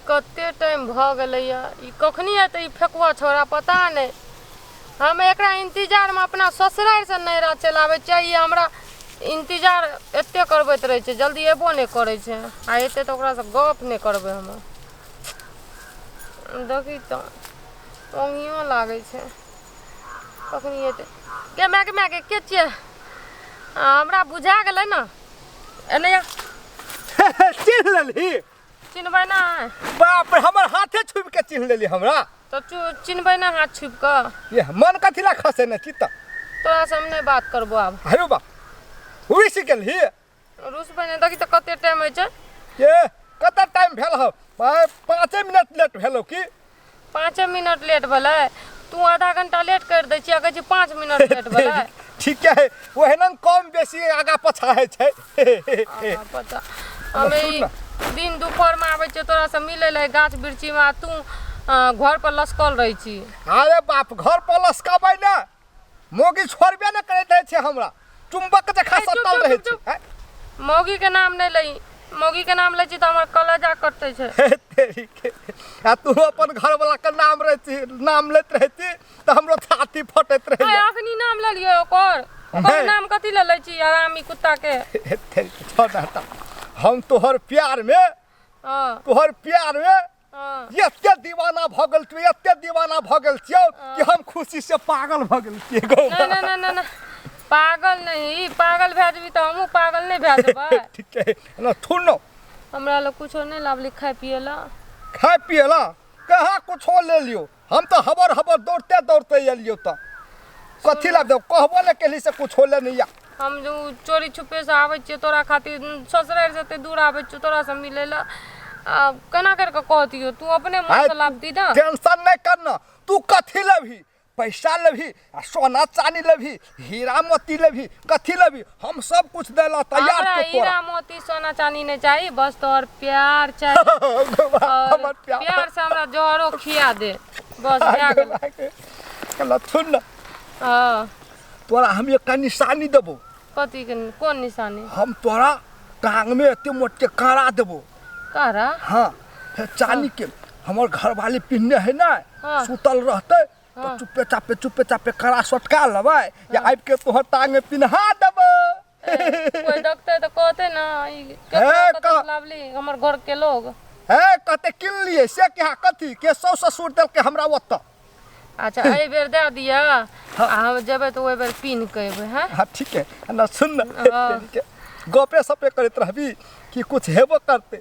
कते टाइम भऽ गेलैए ई कखनी एतै ई फेकुआ छौड़ा पता नहि हम एकरा इन्तजारमे अपना ससुरारिसँ नैहरा चलि आबै छियै ई हमरा इन्तजार एते करबैत रहै छै जल्दी एबो नहि करै छै आ एतै तऽ ओकरासँ गप नहि करबै हम देखी तऽ ओंगियो लागै छै कखनी एतै गे माय गे माय गे के छियै आ, हमरा बुझा गेलै ने एने आ। चिन्ह लेलही चिन्हबै ना बाप रे हमर हाथे छुप के चिन्ह लेली हमरा तो चु- चिन्हबै ना हाथ छुप कऽ ये मन कथी ला खसे ने चित्त तोरा से हम नहि बात करबो आब आयो बा हुई से गेलही रुसबै नहि देखी तऽ कते टाइम होइ छै ये कत टाइम भेल हो पाँचे मिनट लेट भेलो की पाँचे मिनट लेट भेलै तू आधा घंटा लेट कर दै छियै कहै छी पाँच मिनट लेट भेलै ठीक है ओहन कम बेसी आगा पछा होइ छै हमे ई दिन दुपहर में आबै छियै तोरा से मिलै लए गाछ वृक्षी में तू घर पर लसकल रहै छी अरे बाप घर पर लसकबै ने मोगी छोड़बे ने करैत रहै छै हमरा चुम्बक जखा सटल रहै छै हैं? मौगी के नाम नहीं लई मौगी के नाम लै छी तो हमार कलेजा कटते छै हे तेरी के। आ तू अपन घरवाला के नाम रहती नाम लेत रहती तो हमरो छाती फटैत आय रहै अखनी नाम ले लियो ओकर ओकर नहीं। नाम कथी ले लै छी आरामी कुत्ता के हे तेरी के, छोड़ ना हटा। हम तोहर प्यार में हाँ तोहर प्यार में हाँ। एते दीवाना भऽ गेल तू एते दीवाना भऽ गेल छियौ कि हम खुशी से पागल भऽ गेल छियै गौ ना ना ना ना ना पागल नहीं पागल भए जेबी तऽ हमहूँ पागल नहीं भए जेबै ठीक है ना थुन न हमरा लए कुछो नहीं लाबली खाए पिए लए खाए पिए ला कहाँ कुछो ले लियो हम तऽ हबर हबर दौड़ते दौड़ते एलियौ तऽ कथी लए देब कहबो ने केली से कुछ होले नहि या हम जो चोरी छुपे से आबै छियै तोरा खातिर ससुरारि से एते दूर आबै छियौ तोरा से मिलै लए आ केना करि कऽ कहतियौ तू अपने मन से लाबती ने टेंशन नहि करना तू कथी लेबही पैसा लेबही आ सोना चानी लेबही हीरा मोती लेबही कथी लेबही हम सब कुछ दे ला तैयार हमरा के तोरा हीरा मोती सोना चांदी नहीं चाहिए बस तोहर प्यार चाहिए और हमर प्यार प्यार से हमरा जहरो खिया दे बस भए गेल कला सुन ना हाँ तोरा हम एकटा निशानी देबो कथी के कोन निशानी हम तोरा टांग में एते मोट के कारा देबो कहरा हाँ हे चानी के हमर घरवाली पिन्ने है ना हाँ। सुतल रहते तऽ हाँ। चुपे चापे चुपे चापे कड़ा सटका लेबै या आबि के तोहर टांग में पिन्हा देबै कोई डॉक्टर तो कहते ना ई हे, केतना कतऽ कह- लावली हमर घर के लोग हे कहते किनलिए से क्या कथी के सौ ससुर देलकै हमरा ओतऽ अच्छा एहि बेर दे दिया आ हम जेबै तऽ ओहि बेर पिन्ह के एबै हैं हाँ ठीक है ना सुन ना हाँ। के गपे सपे करैत रहबी कि कुछ हेबो करते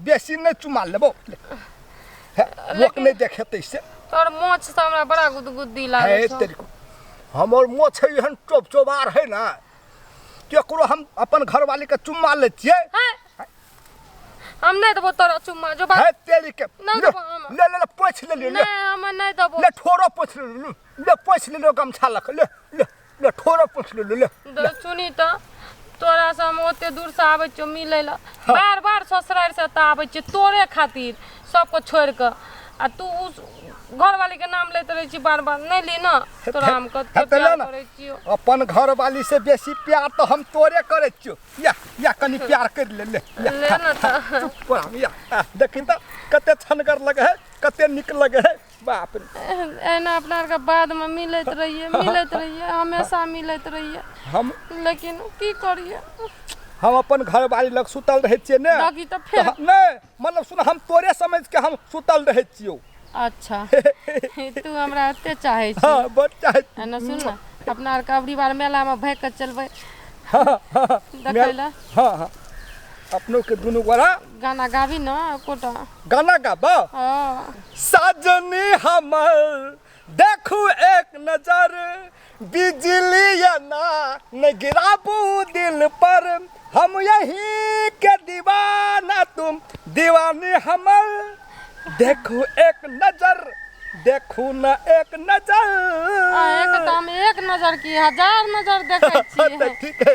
बेसी नहि चुमा लेबो लोक नहि देखेतै से तोर मोछ से हमरा बड़ा गुदगुदी लागै है छौ तेरी हमर मोछ है एहन चोप चोबार है ना केकरो हम अपन घरवाली के चुम्मा ले छियै हैं? हम नहीं देबो तोरा चुम्मा जो है बात तेरी के नहीं ले देबो हम। ले ले, ले पोछ ले ले ले नहीं हम नहीं देबो ले ठोरो पोछ ले ले, ले पोछ ले ले गमछा लख ले ले ले ठोरा पूछ ले ले ले दो सुनी तो तोरा से हम ओते दूर से आबै छियो मिलै लए बार बार ससुरारि से तऽ आबै छियै तोरे खातिर सबके छोड़ि कऽ आ तू उ घरवाली के नाम लैत रहै छी बार बार नहि ली ना तोरा हम हे कते तऽ ले प्यार ने। करै छियो अपन घरवाली से बेसी प्यार तो हम तोरे करे छियो या या कनी प्यार कर ले ले या, ले ना तऽ चुप रह, या आ, देखी तो कते छनगर लगे है कते निक लगे है बाप रे एहिना अपना आरके बादमे मिलैत रहियै मिलैत रहियै हमेशा मिलैत रहियै हम लेकिन की करियै हम अपन घरवाली लग सुतल रहै छियै ने बाकी तऽ फेर- हम- नहि मतलब सुन हम तोरे समझ के हम सुतल रहै छियौ अच्छा तू हमरा एते चाहै छी हँ बड़ चाहै आ ने सुन ने अपना आरके अबरी बार मेलामे भागि कऽ चलबै हँ हँ देखै लए हँ हँ अपनोके दुनू गोरा गाना गाबी ने एकोटा गाना गाबा हाँ सजनी हमर देखू एक नजर बिजली ना न गिराबू दिल पर हम यही के दीवाना तुम दीवानी हमर देखू एक नजर देखू न एक नजर आ, एक तो हम एक नजर की हजार नजर देखे छियै ठीक है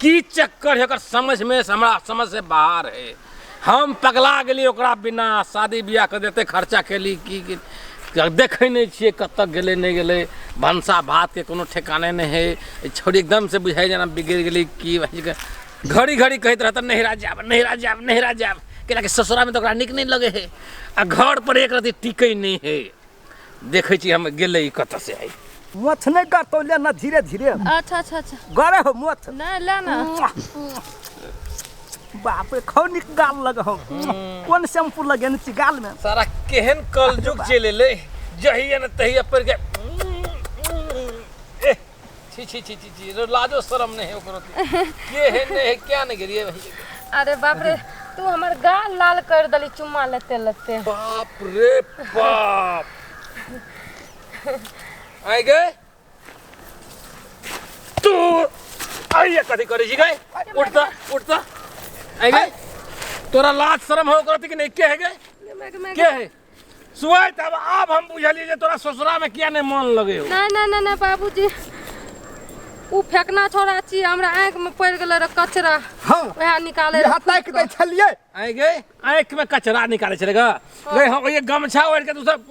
की चक्कर है ओकर समझ में हमरा समझ से बाहर है हम पगला गेली ओकरा बिना शादी ब्याह कर देते खर्चा केली की की- देखै नहि छियै कतऽ गेलै नहि गेलै भनसा भातके कोनो ठेकाने नहि है ई छोरी एकदमसँ बुझाइ जेना बिगड़ि गेलै की भऽ गेलै। घड़ी घड़ी कहैत रहत नहिरा जायब नहिरा जायब नहिरा जायब कैलाकि ससुरामे तऽ ओकरा नीक नहि लगै है आ घर पर एक रति टिकै नहि है देखै छी हम गेलै ई कतऽ से आइ मथ नहि गड़तौ ले ना धीरे धीरे अच्छा अच्छा अच्छा गड़े हो मथ नहि ले ना बाप रे खौ निक गाल लग हम कोन शैम्पू लगेने छी गाल में सारा केहन कलजुग चलि एलै जहिया ने तहिया पर के छी छी छी छी छी रे लाजो शरम नहीं है ओकरो के है नहीं है क्या नहीं करिए भाई अरे बाप रे तू हमर गाल लाल कर दली चुम्मा लेते लेते बाप रे बाप आए गए तू आइए कथी करे जी गए उठता उठता आए गए तोरा लाज शरम हो ओकरो कि नहीं के है गए के है सुहाय तब अब हम बुझलिए जे तोरा ससुरा में किया नहीं मन लगे हो नहीं नहीं नहीं बाबूजी उ फेकना छोड़ा छी हमरा आंख में पड़ गेल रहे कचरा हां वह निकाले यहां तक दे छलिए आए गए आंख में कचरा निकाले छले ग गए हम ये गमछा ओढ़ के तू सब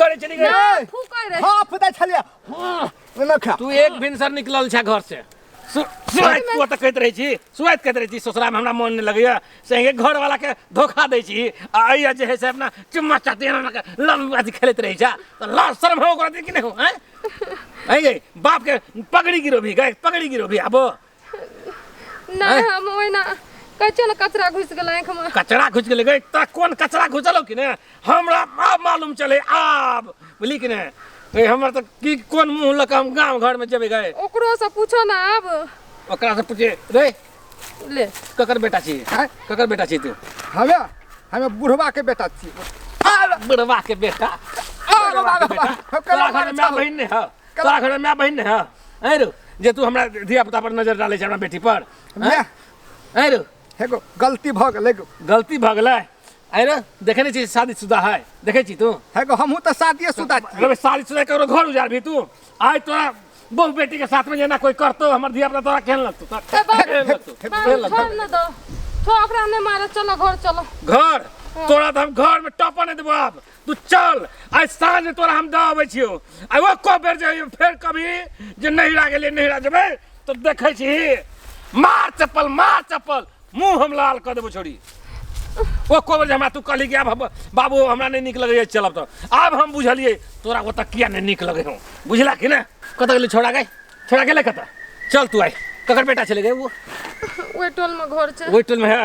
करे चली गए फूक रहे हां पता छलिए हां ना खा तू एक भिनसर निकलल छ घर से सु- सुआइत तू ओतऽ कहैत रहै छी सुआइत कहैत रहै छी ससुरामे हमरा मोन नहि लगैया संगे घरवलाके धोखा दै छी आ अइया जे है से अपना चुम्मा चाटी अहाँके लम अथी खेलैत रहै छा तऽ लाज शर्म हो ओकरा कि नहि हो आँय आँय यै बापके पगड़ी गिरो भी गए पगड़ी गिरो भी आबो नहि हम ओहिना कहै छियौ ने कचरा घुसि गेल आँखिमे कचरा घुसि गेलै गए तोरा कोन कचरा घुसलौ कि ने हमरा आब मालूम चले आब बोली कि नहीं ए, हमर तो की कौन मुंह लऽ के हम गांव घर में जेबे गए ओकरो से पूछो ना अब ओकरा से पूछे रे ले ककर बेटा छी हैं? ककर बेटा छी तू हमे हमे बुढ़वा के बेटा छी बुढ़वा के बेटा आरो बुढ़वा के बाबा, बेटा हम तोरा केना घर में मारै माय छौ? बहिन नहीं है तोरा घर में माय बहिन नहीं है हैं रो जे तू हमरा धिया पुता पर नजर डाले छै हमरा बेटी पर हैं? मैं हैं रो एगो गलती भऽ गेलै गलती भऽ गेलै आय रे देखे नहीं छी शादी शुदा है देखे छी तू है को हमहू तो शादी शुदा अरे शादी शुदा करो घर उजार भी तू आय तो बहु बेटी के साथ में जेना कोई करतो हमर धिया पुता तोरा खेल लगतो तोरा खेल लगतो खेल लगतो छोड़ न दो तो ओकरा ने मारे चलो घर चलो घर तोरा तो हम घर में टपा नहीं देबो अब तू चल आइ साँझ तोरा हम दऽ अबै छियौ आ ओ को बेर जे फेर कभी जे नहिरा गेलियै नहिरा जेबै तऽ देखै छी मार चप्पल मार चप्पल मुँह हम लाल कऽ देबो छोड़ी ओ को बेर जे हमरा तू कहली कि आब हम- बाबू हमरा नहि नीक लगैए चलब तऽ आब हम बुझलियै तोरा ओतऽ किया नहि नीक लगै हौ बुझला कि ने कतऽ गेलै छोड़ा गए छोड़ा गेलै कतऽ चल तू आइ ककर बेटा छलै गए ओ ओहि टोलमे घर छै ओहि टोलमे है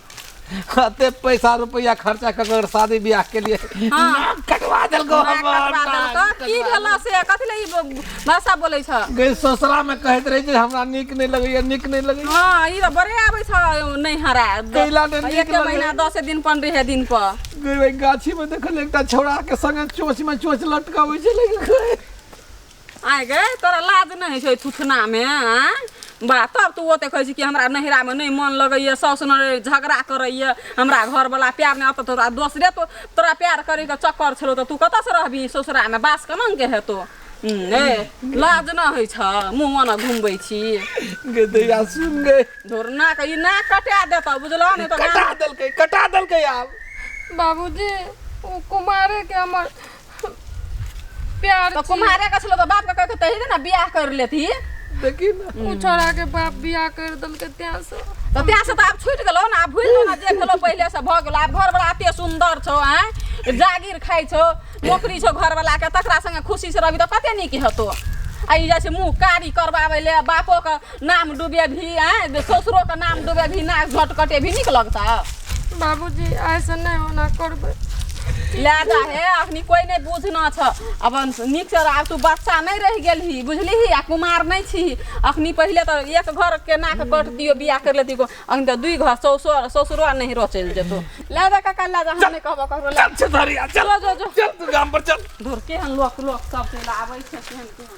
कते पैसा रुपया खर्चा कर कर शादी ब्याह के लिए हाँ। नाक कटवा देल गो नाक हमर कटवा देलक। नाक की कटवा भेला से कथी ले ई ब- भाषा बोलै छ देलक। गई ससुरा में कहत रही जे हमरा नीक नहीं लगैया नीक नहीं लगैया हाँ ई त बड़े आबै छ नै हरा कैला ने नीक एके लगै। महीना दस दिन पन रहे दिन पर गई वही गाछी में देखल एकटा छौड़ा के संगे चोच में चोच लटकावे छै लेकिन आँय गे तोरा लाज नहि होइ छौ थुथनामे आँय बा तब तू ओते कहै छी कि हमरा नैहरामे नहि मन लगैए साउस ननदि झगड़ा करैए हमरा घरवला प्यार नहि अतऽ तोरा दोसरे तो तोरा प्यार करैके चक्कर छलौ तऽ तू कतऽसँ रहबी ससुरामे बास केनाके हेतौ हूँ, ए लाज नहि होइ छ मुँह ओना घुमबै छी गे दैया सुन गे धोरना के ई नाक कटा देतऽ बुझलऽ नहि तऽ कटा देलकै कटा देलकै आब बाबूजी ओ कुमारे के हमर प्यार तो छी। कुम्हारे का छलो तो बाप का कह के तही ना बियाह कर लेती देखी ना उ छोड़ा के बाप बियाह कर देलकै तें से तो तें से तो आप छूट गेलो ना आप भूल ना जे गेलो पहले से भ गेलो आप घर वाला एते सुंदर छो हैं जागीर खाइ छो नौकरी छो घर वाला के तकरा संगे खुशी से रहबी तो कते नीक हेतो आ ई जैसे मुंह कारी करवावे ले बापो के नाम डूबेबही आँय ससुरोके नाम डूबेबही नाक झट कटेबही नीक लगतऽ बाबूजी ऐसे नहि होना करबै लए जा हे अखनी कोइ नहि बुझना छ अब नीकसँ आब तू बच्चा नहि रहि गेलही बुझलिही आ कुमार नहि छीही अखनी पहिले तऽ एक घर केना कऽ कट दियो बियाह कर लेती को अखन तऽ दुई घर ससुर ससुरो नहि रो चलि जेतो लए जा काका लए जा हम नहि कहबो ककरो लए चल छतरिया चल चलो जो जो चल तू गाम पर चल धुर केहन लोक लोक सब चलि आबै छै केहन केहन